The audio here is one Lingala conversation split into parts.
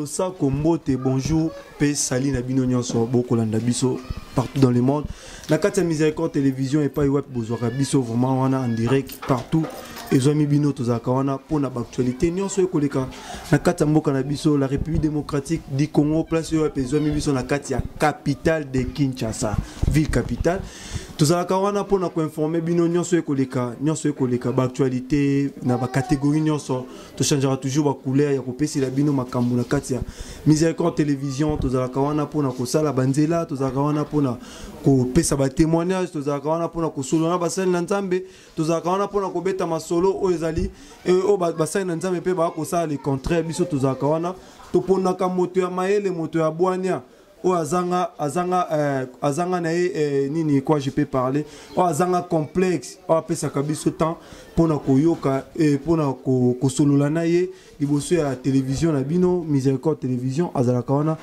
losako mbote bonjour mpe sali na bino nyonso bokolanda biso partout dans le monde na kati ya miséricorde télévision epai wapi bozwaka biso vraiment wana en direct partout ezwami bino tozalaka wana mpo na baactualité nyonso ekoleka na kati ya mboka na biso la république démocratique du congo place oyo wapi ezwami biso na kati ya capitale de kinshasa ville capitale tozalaka wana mpo na koinforme bino nyonso ekoleka nyonso ekoleka baactualité na bacatégorie nyonso tochangeaka toujours bacouleur ya kopesela bino makambo na kati ya miséricorde télévision tozalaka wana mpona kosala banzela tozalaka wana mpona kopesa batémoignage tozalaka wana mpona kosolola na basali na nzambe tozalaka wana mpona kobeta masolo oyo ezali eh, oyo basali na nzambe mpe baya kosala le contraire biso tozalaka wana toponaka moto ya mayele moto ya bwania oyo azanga azanga eh, azanga na ye eh, nini quoi je peux parler oyo azanga complexe oyo apesaka biso temps mpo na koyoka eh, mpo na ko, kosolola na ye liboso ya télévision na bino miséricorde télévision azalaka wana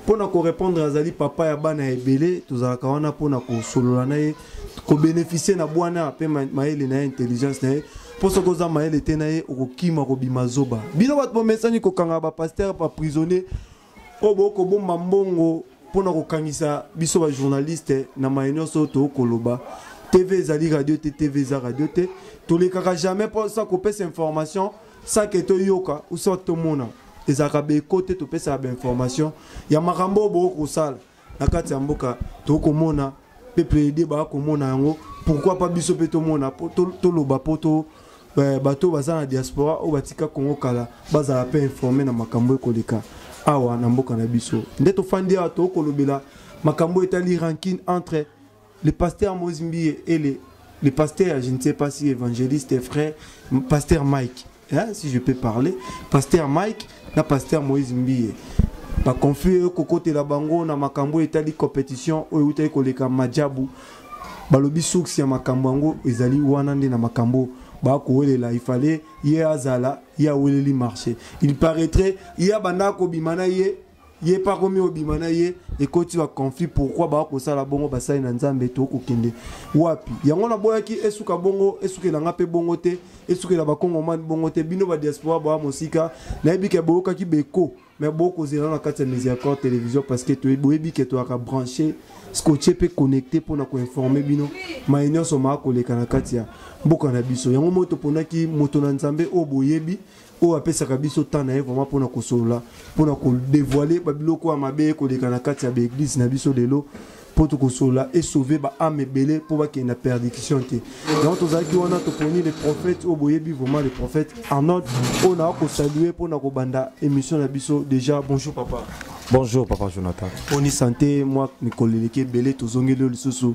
mpo na korépondre azali papa ya bana ya ebele tozalaka wana mpo na kosolola na ye kobénéficie na bwana mpe mayele na ye intelligence na ye mpo soki oza mayele te na ye okokima kobima zoba bino bato bomesani kokanga bapastere baprisonnier oyo bokoki kobomba mbongo mpo na kokangisa biso bajournaliste na maye nyonso oyo tokoki koloba tv ezali radio te tv eza radio te tolekaka jamais mposa kopesa information sake toyoka usa tomona ezalaka beko te topesaka bainformation ya makambo oyo bokoki kosala na kati ya mboka tokomona mpe plede bakomona yango pourkui pa biso mpe tomona toloba mpo to eh, bato baza na diaspora oyo batika kongo kala bazala mpe informe na makambo ekoleka awa na mboka na biso nde tofandi awa tokolobela makambo etali rankine entre Le pasteur Moïse Mbiye et le, le pasteur, je ne sais pas si évangéliste et frère, pasteur Mike, hein, si je peux parler, pasteur Mike, na pasteur Moïse Mbiye. Ba conflit oyo kokotela bango na makambo etali compétition oyo utaki koleka majabu balobi source ya makambo yango ezali wana nde na makambo bakowelela il fallait ye azala ye aweleli marché il paraîtrait ye abandaka kobima na ye ye mpe akomi obima na ye ekoti ba conflit pourquoi baa kosala bongo basali na nzambe to kokende wapi yango naboyaki esuka bongo esukela nga mpe bongo te esukela bakongomani bongo te bino badiaspora baa mosika nayebi ke boyokaki beko me bokozela na kati ya misiacor télévision parce que boyebi ke toyaka branche scotche mpe connecte mpo na koinforme bino maye nyonso maa koleka na kati ya mboka na biso yango moi toponaki moto na nzambe oyo boyebi oyo apesaka biso temps na ye vraiment mpona kosolola mpona kodevoile babiloko ya mabe ekoleka na kati ya baeglise na biso lelo mpo tokosolola esauve baame ebele mpo bakende na perdiction te yango tozalaki wana toponi le prophète oyo boyebi vraiment le prophète arnold oyo naa kosalue mpo na kobanda émission na biso déjà bonjour papa bonjour papa jonathan mponi sante mwa mikolo eleki ebele tozongeli yo lisusu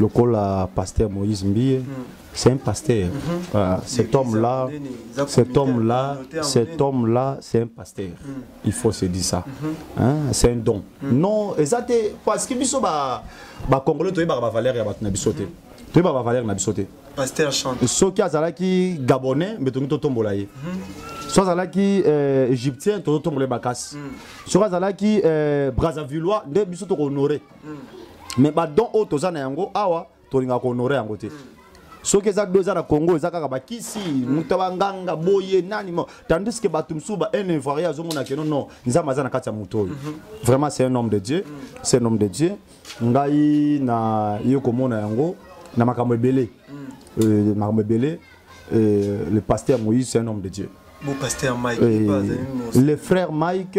lokola pasteur moïse mbiye mm. c'est un pasteur mm -hmm. voilà. cet homme là cet homme là cet homme là c'est un pasteur mm. il faut se dire ça mm -hmm. hein? c'est un don mm. non eza te parce que biso bacongolais toyebaka bavaleur ya bato na biso te mm -hmm. toyebaka bavaleur na biso te pasteur chante soki azalaki gabonais mbe tongi totombola ye mm -hmm. so azalaki euh, égyptien tozotombola ye makasi mm. soki azalaki euh, brazzavillois nde biso tokohonore mm. mais ba don oyo toza na yango awa tolingaka kohonore yango te mm. soki eza do eza na congo eza kaka bakisi mm. moto ya banganga boye nani mo tandis que bato mosusu ba un ivoirien azomona keno non nzambe aza na kati ya moto oyo mhm. vraiment c'est un homme de dieu mm. c'est un homme de dieu ngai na ye komona yango na makambo ebele mm. euh, makambo ebele euh, le pasteur moïse c'est un homme de dieu Bon, pasteur Mike, euh, le frère Mike,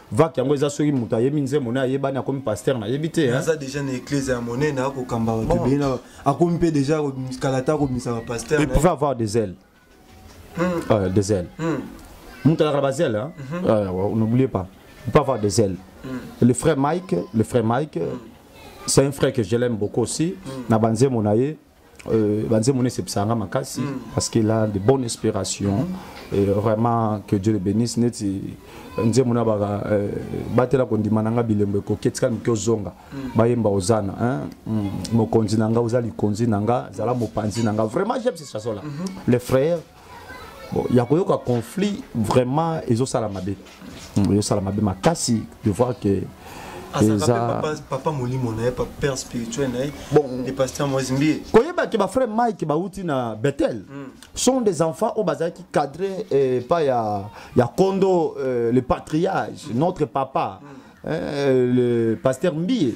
vak yango eza soki moto ayebi nzembo na ayebani akomi paster nayebi te eh? aza deja na eklese ya monene akokamba bato ebele na akomi mpe deja kala te akobimisaka paster il pouvait avoir des ailes hmm. euh, des ailes hmm. moto alaka na bazele mhm. euh, n'oubliez pas il peut avoir des ailes hmm. le frère mike le frère mike c'est un frère que je l'aime beaucoup aussi na banzembo na ye Euh, banzembo nde esepesaka nga makasi mm. parce qu'il a de bonnes inspirations mm. et vraiment que dieu le bénisse neti euh, nzembo na baka euh, batela kondima na nga bilembo ekoki etika mike ozonga mm. bayemba ozana mm. mokonzi na nga oza likonzi na nga zala mopanzi na nga vraiment j'aime ce chanson là mm-hmm. les frères ya koyoka conflit vraiment ezosala mabe hmm, ezosala mabe makasi de voir que eza papa molimo na ye père spirituel na ye de pasteur moise mbie koyeba ke bafrère mike bauti na bethel hmm. sont des enfants oyo bazalaki cadre eh, pa ya, ya kondo eh, le patriage hmm. notre papa eh, le pasteur mbie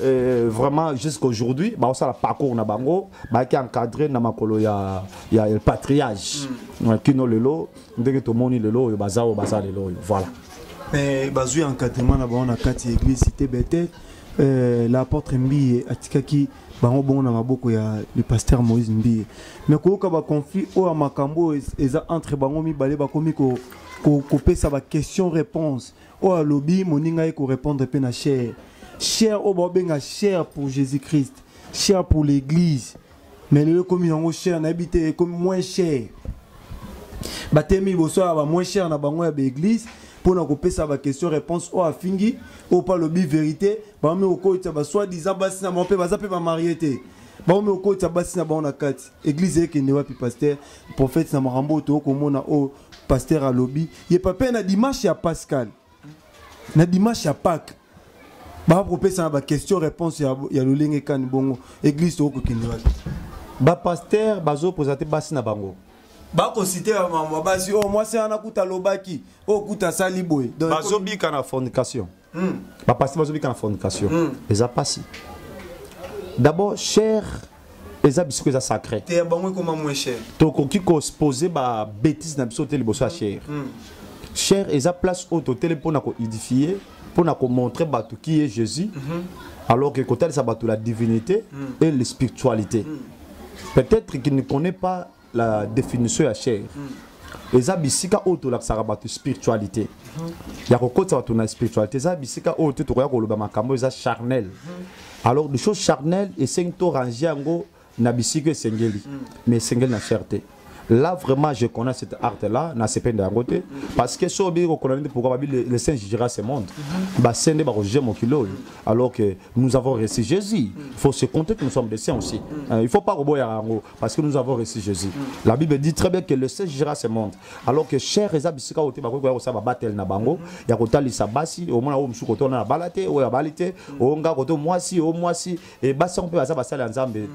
Euh, vraiment jusqu'aujourd'hui baosala parcours na bango bayaki encadré na makolo ya, ya el patriage mm. kino lelo ndenge tomoni lelo oyo baza oyo baza lelo oyo voilà mais bazwi encadrement na bango na kati ya église cité bethel euh, l'apôtre mbiye atikaki bango bongo na maboko ya le pasteur moïse mbiye mais koyoka baconflit oyo ya makambo oyo eza entre bango mibale bakomi kopesa ko, ko baquestion réponse oyo alobi moninga ye korepondre mpe na chair chair oyo baobenga chair pour jésus christ chair pour l'église mais lelo ekomi yango chair nayebi te ekomi moins chair batemi liboso ya ba moins chair na bango ya baeglise mpo na kopesa baquestion réponse oyo afingi oyo mpe alobi verité bango mpe kokolisa basoi disant basi na bango mpe baza mpe bamarie te bango moko okotisa basi na bango na kati eglize ekende wapi paster prophète na makambo oyo tokoki komona oyo pasteur alobi ye papa na dimanche ya pascal na dimanche ya pake bakopesana baquestion réponse ya, ya lolenge kani bongo église tokokokende wapi bapaster bazopoza te basi na bango bakosite ya mama basi oyo oh, mwasi wana kuta alobaki oyo oh, kuta asali boye bazobika na fornication hmm. ba pasteur bazo bika na fornication hmm. eza pasi d'abord cher eza bisiko eza sacré te ya bango ekoma moins cher tokoki ko se poser ba bêtises na biso te liboso ya hmm. cher hmm. cher eza place oyo totele mpona ko édifier mpona ko montrer bato qui est Jésus mm -hmm. alors que kotalisa bato la divinité mm. et la spiritualité mm. peut-être qu'il ne connaît pas la définition ya chair mm. eza bisika oyo tolakisaka bato spiritualité mm -hmm. ya kokotisa bato na spiritualité eza bisika oyo te tokoya koloba makambo eza charnel mm -hmm. alors de chose charnel esengi to range yango na bisika esengeli mm. mais esengeli na chair te là vraiment je connais cette art là na sepende yango te parce que so obi kokona nde pourquoi babi le saint jugera ce monde mhm. base nde bakojuge mokili oyo alors que nous avons reçu jésus il faut se compter que nous sommes des saints aussi mhm. euh, il faut pas koboyaka yango parce que nous avons reçu Jésus. Mm. La Bible dit très bien que le Seigneur jugera ce monde. Alors que cher eza bisika ote bakoki koya kosala babatele na bango mm. ya kotalisa basi omona oyo mosusu koto na bala te oyo abali te mm. oyo nga koto mwasi oyo mwasi e basi yango mpe baza basali ya nzambe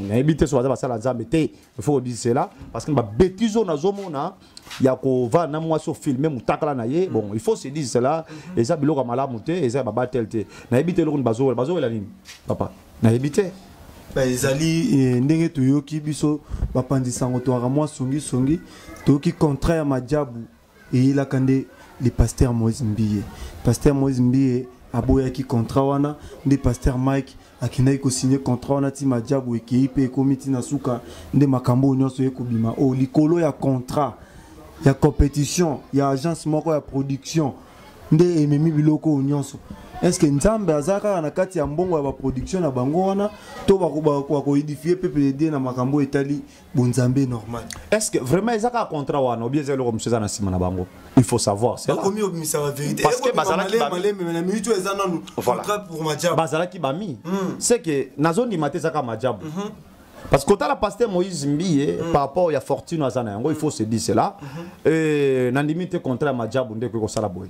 nayebi te so baza basali ya nzambe te il faut kodise cela parce que babetize oyo nazomona ya kovanda na mwasi ofilme motakala na ye bon il faut se dise cela mhm. eza biloko ya malamu te eza ya babatele te nayebi te eloko nini bazowela bazowela nini papa nayebi te ezali eh, ndenge toyoki biso bapanzi sango toyaka mwa songisongi toyoki contrat ya majabu eyelaka nde le pasteur moïse mbiye pasteur moïse mbiye aboyaki contrat wana nde pasteur mike akendaki kosigne contrat wana ti majabu ekei mpe ekomi ti na suka nde makambo oyo nyonso eye kobima oyo oh, likolo ya contrat ya compétition ya agence moko ya production nde ememi biloko oyo nyonso estce nzambe aza kaka na kati ya mbongo ya baproduction na bango wana to bakoedifie peuple de dieu na makambo oyo etali bonzambe normal est ce que vraiment eza kaka contrat wana obi eza eloko mosusu eza na nsima na bango il faut savoir bakomi obimisa baverité parce que bazalaki malembe na minute oyo eza nanu contrat pour majabu bazalaki bami hmm. c'est que nazondima te ezaka majabu mhm. parce que kotala pasteur moïse mbiye mm. par rapport ya fortune aza na yango il faut se dire cela mm -hmm. euh, nandimi te contrat ya majabu nde ekoki kosala boye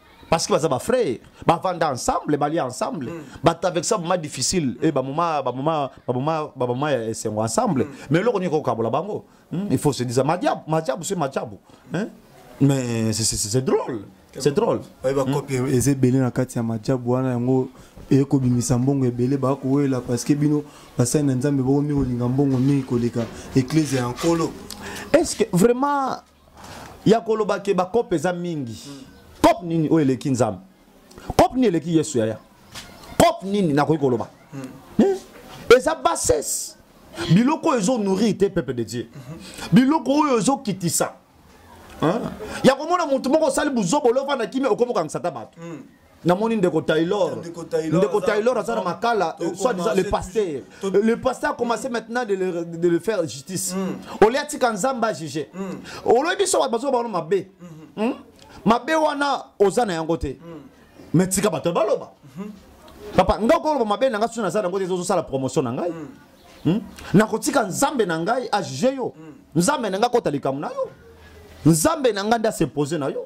parce que baza ba frère bavanda ensemble balia ensemble mm. bato avec ça boma difficile e bamoma bamoma bamoma bamoma ya esengo ensemble mm. mais eloko nini kokabola bango mm. il faut se dire majabu majabu se majabu hein? mais c'est drôle c'est drôle oye bakopi hmm. eza ebele na kati ya majabu wana yango eye kobimisa mbongo ebele bakowelela parce que bino basali na nzambe bokomi kolinga mbongo mingi koleka eklezia ya nkolo est ce que vraiment ya koloba ke bakope eza mingi kope nini oyo eleki nzambe kope nini eleki yesu yaya kope nini nakoki koloba hmm. eh, eza bassesse biloko oyo ezonourrir te peuple de dieu biloko oyo ezokitisa ya komona motu moko osali buzobolo ovanda kimi okomi okangisa ata bato hmm. namoni ndeko taylor ndeko taylor aza na makala euh, soit disant le pasteur le pasteur a commencé mm. maintenant de le, de le faire justice mm. olia tika nzambe ajuge mm. oloyi biso bato bazoba bano mabe mm-hmm. hmm? mabe wana oza na yango te mais tika bato baloba mm-hmm. papa ngai okoloba mabe na ngai soki naza na yango te ezosala promotion na ngai hmm? nakotika nzambe na ngai ajuge yo nzambe na ngai akota likambo na yo nzambe na ngai nde asepose na yo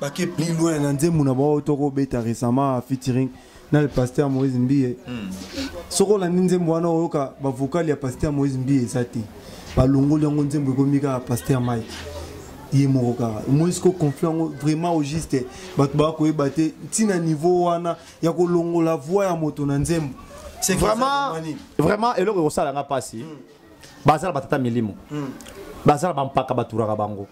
bake plus loin na nzembo na bango toko beta récemment featuring na le pasteur Moïse Mbiye mm. soki olandi nzembo wana oyoka ba vocal ya pasteur Moïse Mbiye eza te balongoli yango nzembo ekomi kaka pasteur Mike ye moko kaka omonisi ko conflit yango vraiment au juste bato baya koyeba te ntina niveau wana ya kolongola voi ya moto na nzembo vraiment vraiment eloko ekosala nga mpasi mm. baza na batata milimo mm. baza na bampaka baturaka bango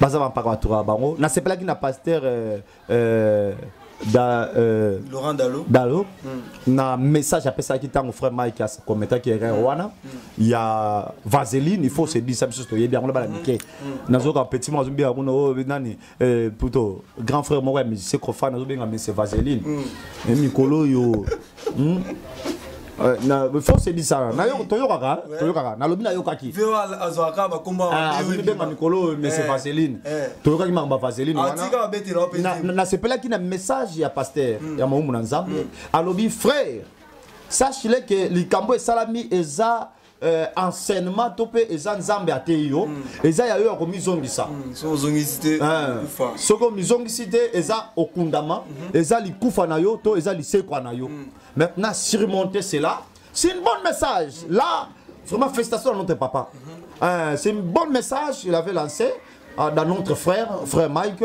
baza bampaka baturaka bango nasepelaki na pasteur euh, euh, da, euh, Laurent Dalo, Dalo mm. na message apesaki ntango frère Mike akometaki erreur mm. wana mm. ya vaseline il faut se dire ça biso toyebi yango na bana mike nazoka petit moko azobenga kuna oyo oh, nani plutôt grand frère moko ya musicien kofa nazobenga mese vaseline mikolo oyo hmm? Euh, na faut se dire ça na yo toyokaka toyokaka nalobi nayokaki voa azwaka bakombo ah, azwi benga mikolo oyo mese eh, vaseline eh. toyokaki makambo ya vaseline ah, nasepelaki na message ya pasteur hmm. ya mawumu na nzambe hmm. alobi frère sache le ke likambo esalami eza euh, enseignement to mpe eza nzambe ateyi yo mm. eza ya yo ya komizongisa mm, soki omizongisi te eza okundama mm -hmm. eza likufa na yo to eza lisekwa na yo mm. maintenant surmonter cela c'est une bonne message mm. là vraiment félicitation à notre papa mm -hmm. euh, c'est une bonne message il avait lancé euh, dans notre frère frère Mike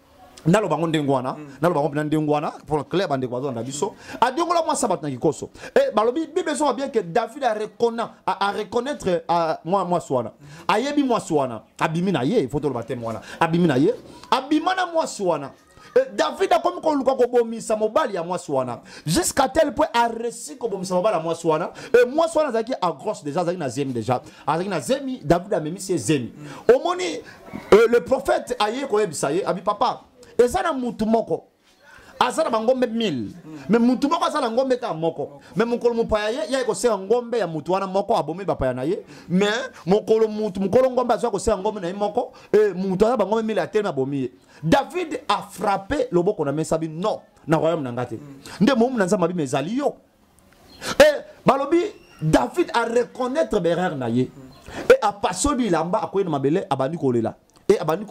naloba yango ndenge wana mm. naloba yango mpena ndenge wana mpona claire bandeko bazolanda biso adiongola mwasi ya bato na kikoso e eh, balobi bible ezoka bien ke david areconnaitre mwasi wana ayebi mwasi wana abimi na ye fo toloba teme wana abimi na ye abima na mwasi wana eh, david akomi koluka kobomisa mobali ya mwasi wana jusqu'à tel point aresi kobomisa mobali ya mwasi wana e mwasi wana azalaki agros déjà azalaki na zemi déjà azalaki na zemi davidi amemisi ye zemi omoni euh, le prophète aye koyebisa ye abi papa eza na mutu moko aza na bangombe 1000 me mutu moko aza na ngombe kaka moko me mokolo mopaya ye yaki kosenga ngombe ya mutu wana moko abomi bapaya na ye me mokolo mutu mokolo ngombe azwa kosenga ngombe na ye moko e mutu aza bangombe 1000 atelemi abomi ye david afrape loboko na mesa bi non na royaume na ngai te nde momu na nzambe abima ezali yo eh, balobi david areconnaitre berere na ye e apasoli elamba akwei na mabele abandi kolela e abandi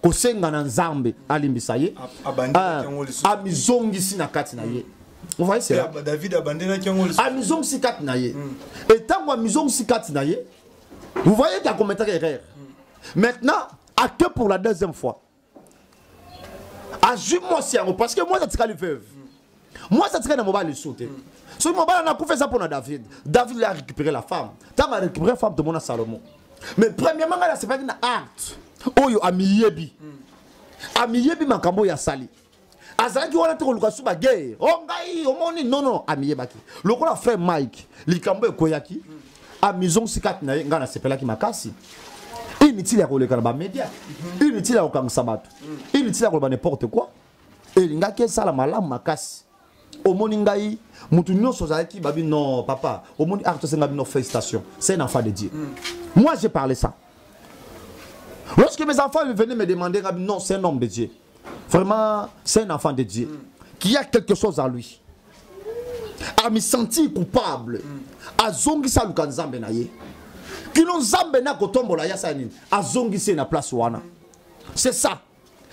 kosenga na nzambe alimbisa ye ah, amizongisi na kati na ye ovaye sela david abandelaki yango amizongisi kati na ye etango hmm. amizongisi kati na ye vous voyez akometaka erreur hmm. maintenant acte pour la deuxième fois azwi mwasi yango parce que mwasi atikali veuve mwasi atikali na mobali lisu te soki mobali ana akufa eza mpo na david david le arécupéré la femme ntango arécupéré femme tomona salomon mais premièrement ngai nasepaki na acte oyo amiyebi amiyebi makambo oyo asali azalaki wana te koluka su bagere o oh, ngai omoni nono amiyebaki lokola frère mike likambo ekweyaki amizongisi kati na ye ngai nasepelaki makasi inutile ya koleka na bamedia inutile ya kokangisa bato inutile ya koloba n'importe quoi elingaki esala malamu makasi omoni ngai motu nyonso ozalaki babi non papa omoni art tosenga bino félicitation c'est un enfant de dieu mm. moi j'ai parlé ça lorsque mes enfants venaient me demander non c'est un homme de dieu Vraiment, c'est un enfant de Dieu mm. qui a quelque chose à lui. A me sentir coupable. Mm. A zongi sa luka nzambe na ye. Kino nzambe na kotombola ya sa nini. A zongi se na place wana. C'est ça.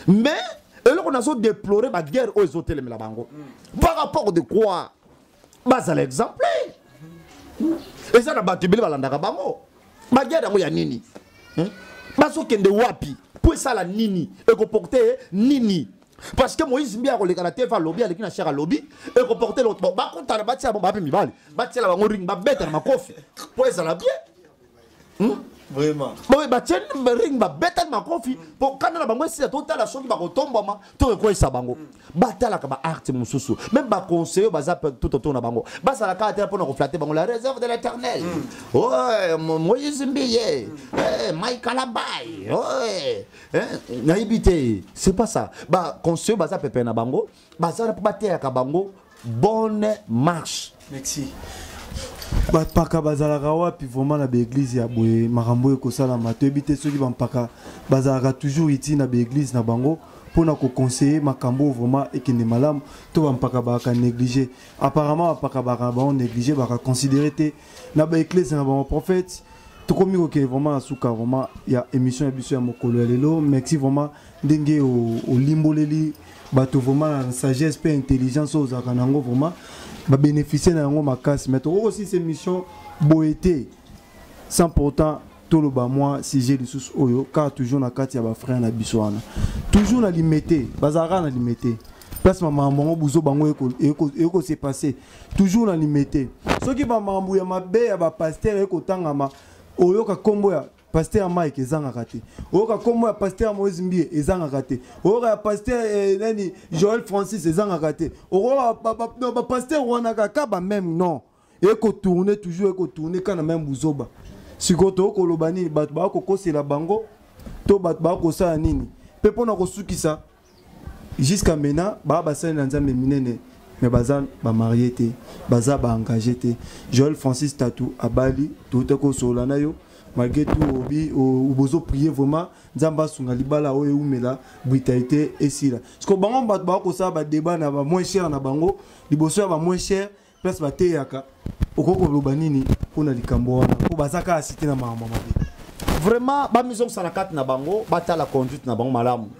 Mais, eloko nazo déplorer ba guerre oyo ezotelemela bango. Mm. Par rapport de quoi? bazala exemple eza na bato ebele balandaka bango bagiade yango ya nini hmm? bazokende wapi mpo esala nini ekoporte nini parce que moïse mbi akoleka na tv alobi aleki na share alobi ekoporte bakutana batiela bango bape mibali batiela bango ring babeta na makofi mpo ezala bien hmm? vraiment boye batie ring babetani makofi mpo kanda na bango esila totala soki bakotombwama to ekweyisa bango mm. batalaka baarte mosusu meme baconseille baza tout autour na bango bazalaka ata mpo na koflate bango la réserve de l'éternel mm. oye moïse mbiye mm. eh, mai kalabai oye eh, nayebi te c'est pas ça baconseille baza pepe na bango bazala mpo bateyaka bango bonne marche merci bampaka bazalaka wapi vraiment na baeglize ya boye makambo oyo ekosalama toyebi te soki bampaka bazalaka toujours iti na baeglize na bango mpo na kokonseye makambo oyo vraiment ekende malamu to bampaka baka néglige apparemment bampaka baka na bango néglige baka considere te na baeklese na bango prophète tokomi kokende vraiment na suka vraiment ya émission ya biso ya mokolo ya lelo merci vraiment ndenge olimboleli bato vraiment na sagesse mpe intelligence oyo ozalaka na yango vraiment babénéficie na yango makasi mais tokoki osilisa émission boye te sans pourtant toloba mwa sujet lisusu oyo kaka toujours na kati ya bafrère na biso wana toujours na limete bazalaka na limete place bamakambo yango buzo bango ekose passe toujours na limete soki bamakambo ya mabe ya bapaster ekotangama oyoka nkombo ya Pasteur Mike ezangaka te. Oyoka kombo ya Pasteur Moïse Mbie ezangaka te. Oyoka ya Pasteur eh, nani Joël Francis ezangaka te. Oyoka ba, ba, ba, ba Pasteur wana kaka ba même non. Eko tourner toujours eko tourner kana même buzoba. Siko to koloba nini bato ba ko kosela bango to bato ba ko sala nini. Pe pona ko sukisa jusqu'à maintenant baa basali na nzambe minene mais baza bamarie te baza baengage te joel francis tatu abali touta kosolola na yo malgré tout obi bozo prier vraiment nzambe asunga libala oyo eumela brutalité esila siko bango bato bakosala badeba na bamoin cher na bango liboso ya bamoin cher place bateyaka okoki koloba nini mpo na likambo wana mpo baza kaka site na makambo mabe vraiment bamizongisa na kati na bango batala conduite na bango malamu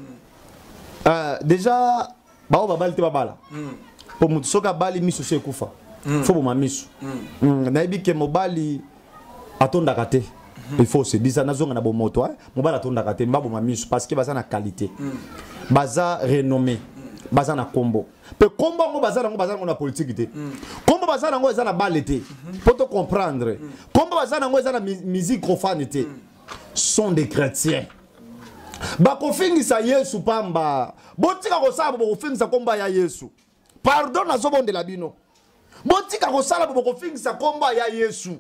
euh, déjà baoyo babali te babala hmm. mpo motu soki abali miso so ekufa hmm. fo boma miso hmm. nayebi ke mobali atondaka te il faut se disa nazonga na bomoto mobali atondaka te mbaboma miso parce que baza na qualité baza renommé baza na kombo mpe nkombo yango baza nango baza nango na politiki te mm. nkombo baza nango eza na bale te mm-hmm. mpo to comprendre mm. nkombo baza nango eza na musique profane te mm. sont des chrétiens bakofingisa yesu pamba botika kosala bo bokofingisa nkombo ya yesu pardon nazobondela bino botika kosala bo bokofingisa nkombo ya yesu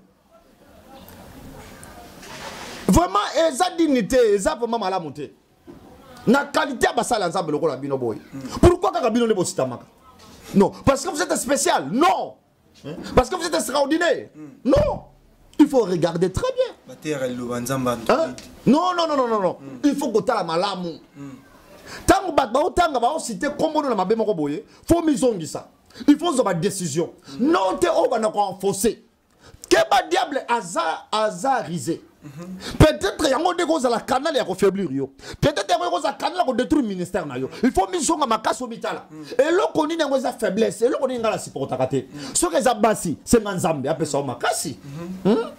vraiment eza dignité eza vraiment malamu te na qualité ya basali ya nzambe lokola bino boye pourquoi kaka bino nde bositamaka non parce que vous êtes spécial non parce que vous êtes extraordinaire non il faut regarder très bien hein? non non non non non il faut kotala malamu ntango bato baotanga baosite nkombono na mabe moko boye fo mizongisa il faut ozwa badécision non te oyo banda koenfose keba diable aza aza rise peut-être yango nde ekozala canal ya kofaiblir yo peut-être yango ekozala canal ya kodétruire ministère na yo il faut mizonga makasi omitala eloko nini yango eza faiblesse eloko nini ngai nasupportaka te soki eza basi senga nzambe apesa yo makasi hmm?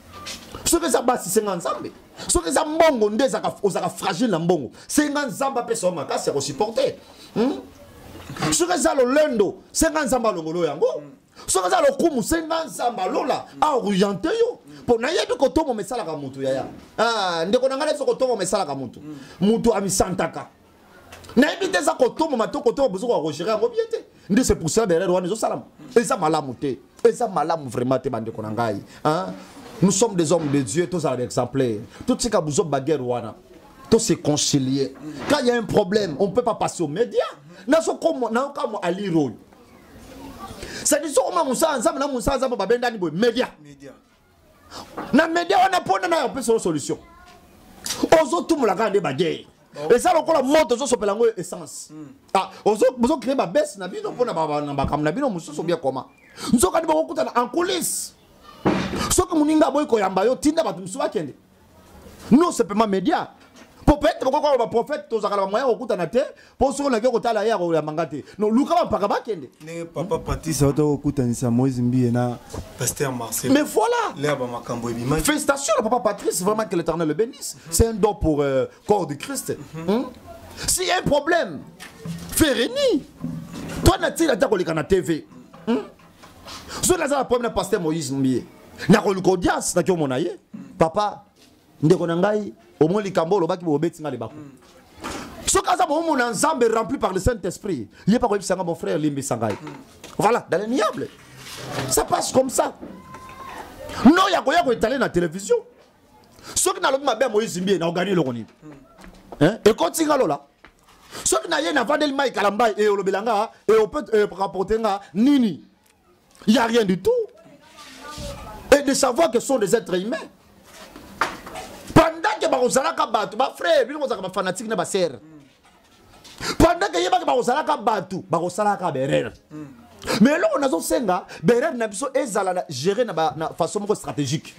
soki eza basi senga nzambe soki eza mbongo nde ozalaka fragile na mbongo senga nzambe apesa yo makasi ya kosupporte hmm? soki eza lolendo senga nzambe alongolo yango soki aza lokumu senga nzambe alola aoriente yo mpo nayebi kotomboma esalaka motu yaya ah, ndeko na ngai nayebi so kotomboma esalaka motu motu amisantaka nayebi te eza kotomboma to kotomboma bozoka kogere yango bie te nde se poursela derrière wana ezosalama eza malamu te eza malamu vraiment te bandeko na ngai nous sommes des hommes de dieu tozala baexemplaire totika buzo baguerre wana to se concilier quand il y a un problème on peut pas passer aux médias nazokamwa alire oyo sadi so oma mosala nzambe na mosala nzambe babendani boye media na media wana mpona nayo opesa yo solution ozotumula kaka nde bageye eza lokola moto ozosopela yango essence hmm. ah, ozocree babese na bino mpona makambo na bino mosusu bia koma nzokani bokokutana en coulisse soki moninga aboyi koyamba yo tinda bato mosusu bakende non sepema media mpo peut-être bokoki koloba prophète tozalaka na bamoya kokutana te mpo soki olaki okotala ye akoyamba nga te no luka bampaka bakende ndenge papa patrice auta kokutanisa moïse mbiye na pasteur marcel mais voilà lea bamakambo ebimaki félicitation na papa patrice vraiment que l'éternel le bénisse c'est un don pour euh, corps du christ mm -hmm. si un problème ferini toi natina ata koleka na tv mm -hmm. soki naza na problème na pasteur moïse mbiye nakoluka audience nakiomona ye papa ndeko na ngai omoni likambo olobaki bobeti ngai libaku soki aza bomona nzambe rempli par le saint esprit ye mpe akoyebisa ngai mon frère limbisa ngai voilà dans le niable ça passe comme ça no ya koya koetale na télévision soki nalobi mabe ya moïse mbie naogani eloko nini hein? ekoti nga lola soki naye navandeli mai kala mbai e olobela nga e ope e, rapporte nga nini y a rien du tout et de savoir que sont des êtres humains pendant que bakozalaka bato bafrère bino kozalaka bafanatike na basere mm. pendant ke ye bake bakozalaka bato bakosalaka berere me eloko nazosenga berere na biso ezala na gere na façon moko stratégique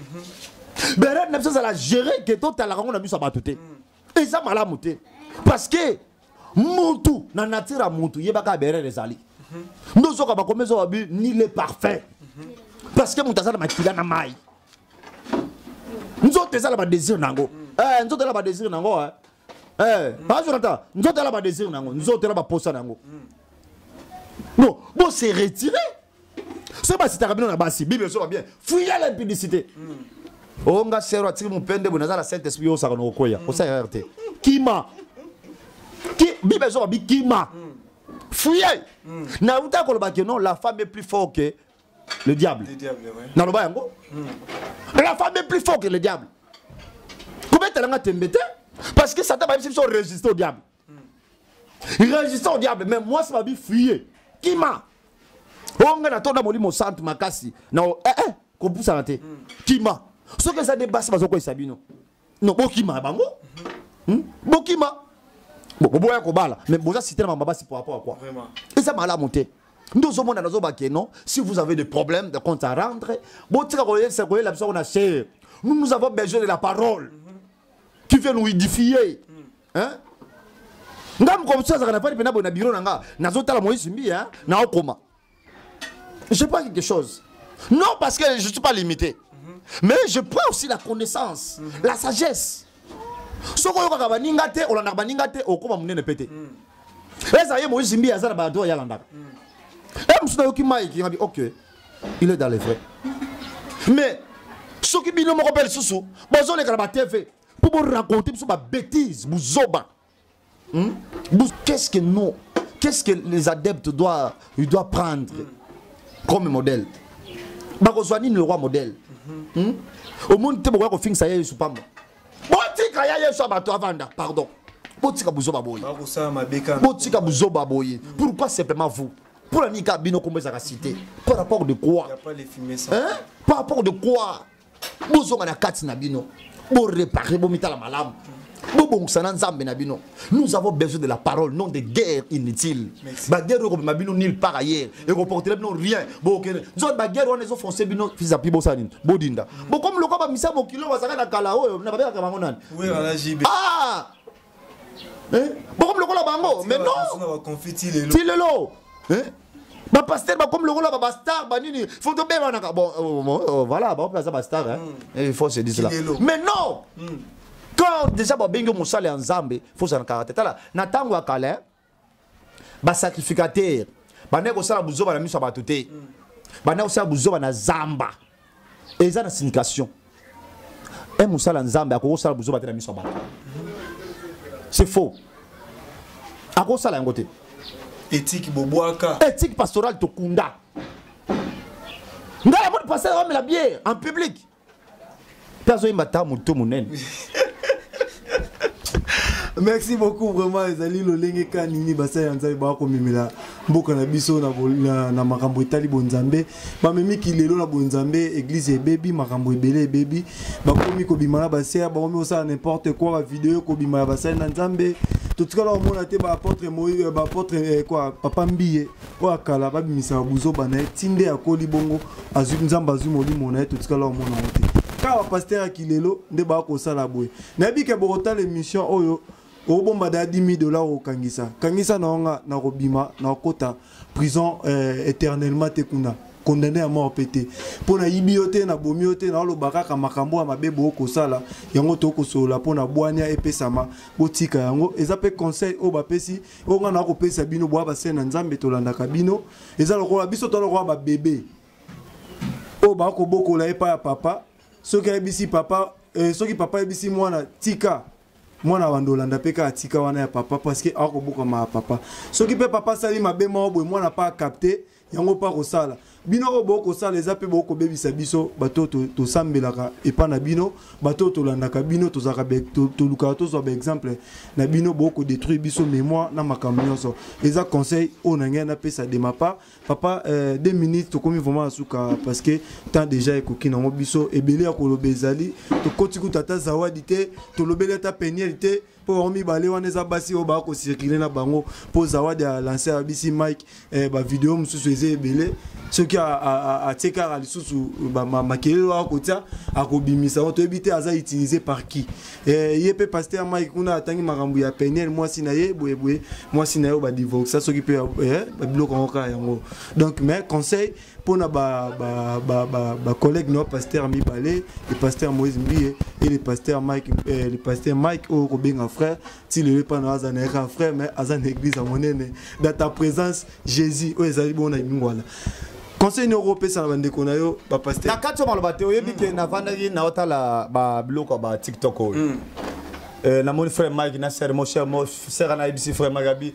berere na biso ezala gere ke totalaka yango na biso ya bato te eza malamu te parce que mutu na nature ya mutu yebaka berere ezali ndozoka bakomi ezoba bi ni le parfum parce que moto aza na makila na mai nzoto eza na badésir na yango eh, nzoto eza na badésir na yango eh. eh, mm. pas Jonathan nzoto la ba désir nango nzoto la ba posa nango mm. non bon c'est retiré c'est pas si t'as bien la basi bible soit bien fouiller l'impudicité mm. oh nga sero atiki mupende bo nazala saint esprit yo saka no koya ko sa rte kima ki bible soit bi kima fouiller na uta ko ba que non la femme est plus fort que le diable naloba yango hmm. la femme est plus fort que le diable kobetela nga tembe te parce que satan bayebisi biso résister au diable hmm. résister au diable mais mwasi babi fuye kima oyo oh, ngai natonda molimo santu makasi na eh, eh, kopusana te hmm. kima soki eza nde basi bazokweyisa bino non bokima na bango hmm? bokima boboya kobala mais boza site na bango babasi po rapport quoi eza malamu te nde ozomona nazobake non si vous avez des problèmes de compte à rendre botika koyebisa koyela biso kona chere nous nous avons besoin de la parole qui vient nous édifier hein nga mokomosi azalaka na fani mpe na boye na biro na nga nazotala moyisi mbi naokoma Je prends quelque chose. Non, parce que je ne suis pas limité. Mm -hmm. Mais je prends aussi la connaissance, mm -hmm. la sagesse. soki oyokaka baninga te olandaka baninga te okoma monene mpe te eza ye moïse mbi aza na bato oyo alandaka e mosusu nayoki mai kingabi ok il est dans le vrai mais soki bino moko mpe lisusu bozoleka na batv mpo boraconte biso babétise buzoba Hmm? Qu'est-ce que nous, qu'est-ce que les adeptes doivent, ils doivent prendre comme modèle bakozwa nini lokwa modèle hmm? omoni te bokoya kofingisa ya yesu pamba botika ya yesu ya bato avanda pardon botika buzoba boye botika buzoba boye pourquoi simplement vous mpo na nini kaka bino kombo ezalaka cité par rapport de quoi hein? par rapport de quoi bozonga na kati na bino borepare bomitala malamu bobongisa na nzambe na bino nous avons besoin de la parole non de guerre inutile baguerre oyo ekobima bino nil par ailleurs ekoportela bino rien bokende nzo baguerre wana ezofonse bino fisapi bosala nini bodinda bokomi lokola bamisa mokili oyo bazalaka na kala oyo na babelaka bango nani ah! eh? bakomi lokola bango mais non ti lelo eh? bapaster bakomi lokola babastar banini fo tobebanaka bon euh, euh, euh, voilà bango mpe aza bastar hmm. eh, il faut se dire cela mais non hmm. quand déjà babengi yo mosala ya nzambe fo ozala na karate tala na ntango ya kala ba sacrificateur banda kosala buzoba na miso ya bato te banda kosala buzoba na zamba eza na signification e mosala nzambe akoki kosala buzoba te na miso ya bato c'est faux akoki kosala yango te etiki bobwaka etiki pastorale tokunda ngai amoni pasteur amela biere en public mpe azoyemba ta moto monene merci beaucoup vraiment ezali lolenge ka nini basali ya nzambe baa komemela mboka na biso na, na, na makambo etali bonzambe bamemi kilelo na bonzambe eglize ebebi makambo ebele ebebi bakomi kobima na basere bakomi kosala n'importe quoi bavideo ekobima ya basali na nzambe totikala komona te baapotre euh, baapotre eh, quoi papa mbiye oyo ya kala babimisaka buzoba na ye ti nde akoli bongo azwi nzambe azwi molimo na ye totikala omona yango te kaka bapastere ya kilelo nde baya kosala boye nayebi ke bokotala émission oyo obomba da 10 dollars okangisa kangisa na wanga na kobima na kokota prison euh, éternellement te kuna condamné ya mort mpe te mpo nayibi yo te nabomi yo te naoloba kaka makambo ya mabe boyo kosala yango tokoki kosolola mpo na bwania epesama botika yango eza mpe conseil oyo bapesi oyo ngai nakopesa bino boya basene na nzambe tolandaka bino eza lokola biso to lokola babebe oyo bakobokola epai ya papa soki ayebisi papa eh, soki papa ayebisi mwana tika mwana bando olanda mpe kaka tika wana ya papa parceke akobokama ya papa soki mpe papa asali mabe moko boye mwana mpe akapte yango mpe akosala bino oyo bokosala eza mpe bokobebisa biso bato oyo tosambelaka epai na bino bato oyo tolandaka bino tozalaka tolukaka tozwa baexemple na bino bokodetruire biso mémoire na makambo nyonso eza conseil oyo na ngai napesa de ma part papa euh, deux minutes tokomi vraiment na suka parce que temps déjà ekoki nango biso ebele ya koloba ezali tokoti kuta ata zawadi te tolobeli ata peniel te mpo bango mibale wana eza basi oyo baya kocircule na bango mpo zawadi ya lanse ya bisi mike eh, bavideo mosusu eza ebele soki atie kaka lisusu makelele oyo akotia akobimisa yango toyebi te aza utilise par qui eh, ye mpe paster mike kuna atangi makambo ya peniel mwasi na ye boyeboye mwasi na ye oyo badivorsa soki mpe eh, babiloko yango kaka yango donc mais conseil mpo na bacollègue ba, ba, ba, ba, ba na pasteur mibale le pasteur moïse mbie e le pasteur mike eh, le pasteur mike oyo kobenga frère ti lelo epai na aza na yaka frère mais aza na église ya monene dans ta présence jésus oyo ezali bongo na lingwala conseil nini okopesa na bandeko na yo bapasteur na kati ya maloba te oyebi ke navandaki naotala babiloko ya ba tiktok oyo hmm. eh, namoni frère mike na sere mo cher mo sere anayebisi frère mike abi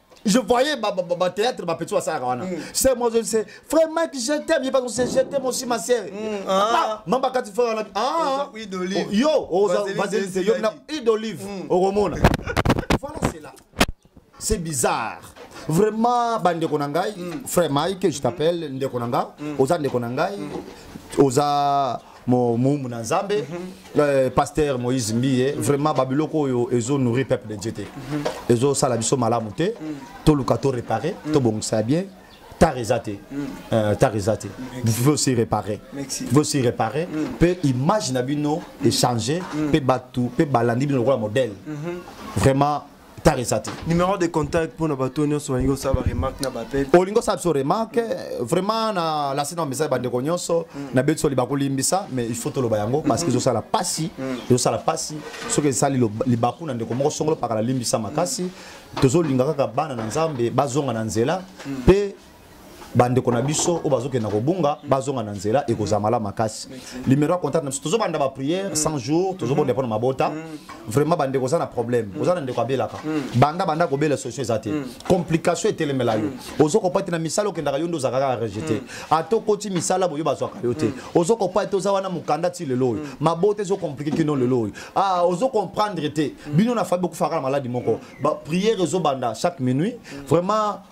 je voyais ba, ba, ba, ba théâtre ba petit wasala wana mm. c'est moi je sais frère Mike je t'aime il pas c'est je t'aime aussi ma sœur mm, ah. ah mamba quand tu fais on a ah huile d'olive oh, yo oh, vaseline c'est yo na huile d'olive mm. oromona voilà c'est là c'est bizarre vraiment bandeko na ngai mm. frère Mike je t'appelle mm. ndeko na nga mm. oza ndeko na ngai mm. oza moumbu na nzambe mm -hmm. euh, pasteur moïse mbiye mm -hmm. vraiment babiloko oyo ezo nourri peuple de dieu te mm -hmm. ezosala biso malamu te mm -hmm. toluka to réparer mm -hmm. tobongisa ya bien tard eza te mm. euh, tard eza te vous pouvez aussi réparer vous pouvez aussi réparer mpe mm. image na bino echange mpe mm. bato mpe balandi bino lokola modèle mm-hmm. vraiment tarisa te numéro de contact mpona bato nyonso balingi kosala baremarque na bapel olingi osala biso remarque vraiment na lasi na message bandeko nyonso mm. na beti soli bakolimbisa mais il faut toloba yango parce que mm-hmm. ezosala mpasi mm. ezosala mpasi soki esali libaku na ndeko moko songolo pakala limbisa makasi mm. tozolingaka kaka bana na nzambe bazonga na nzela mpe bandeko na biso oyo bazokenda kobunga bazonga na nzela ekozala malamu makasi limero ya contact na biso tozobanda baprière 100 jours tozobonda mpo na mabota mm. vraiment bandeko oza na problème mm. oza na ndeko abelaka mm. banda banda kobela solution eza te complication etelemela yo ozokopa te na misala okendaka yo nde ozaka kaka rejete ata okoti misala boyo bazwaka yo te ozokopa te oza wana mokanda ti lelo oyo mabota ezocomplike kino lelo oyo ah, ozocomprendre te bino na fabi okufaka na maladi moko baprière ezobanda chaque minuit vraiment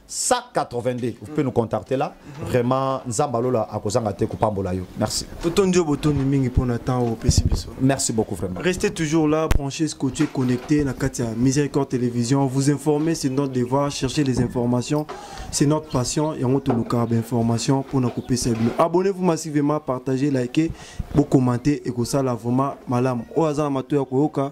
182 vous pouvez nous contacter là vraiment nzambe alola akozanga te kopambola yo merci totondi yo botondi mingi mpona temps oyo opesi biso merci beaucoup vraiment restez toujours là branché scotché connecté na kati ya miséricorde télévision vous informer c'est notre devoir chercher les informations c'est notre passion yango tolukaka bainformation mpona kopesa bino abonnez vous massivement partagez likez bocommenter ekosala vraiment malamu oyo aza na mato ya koyoka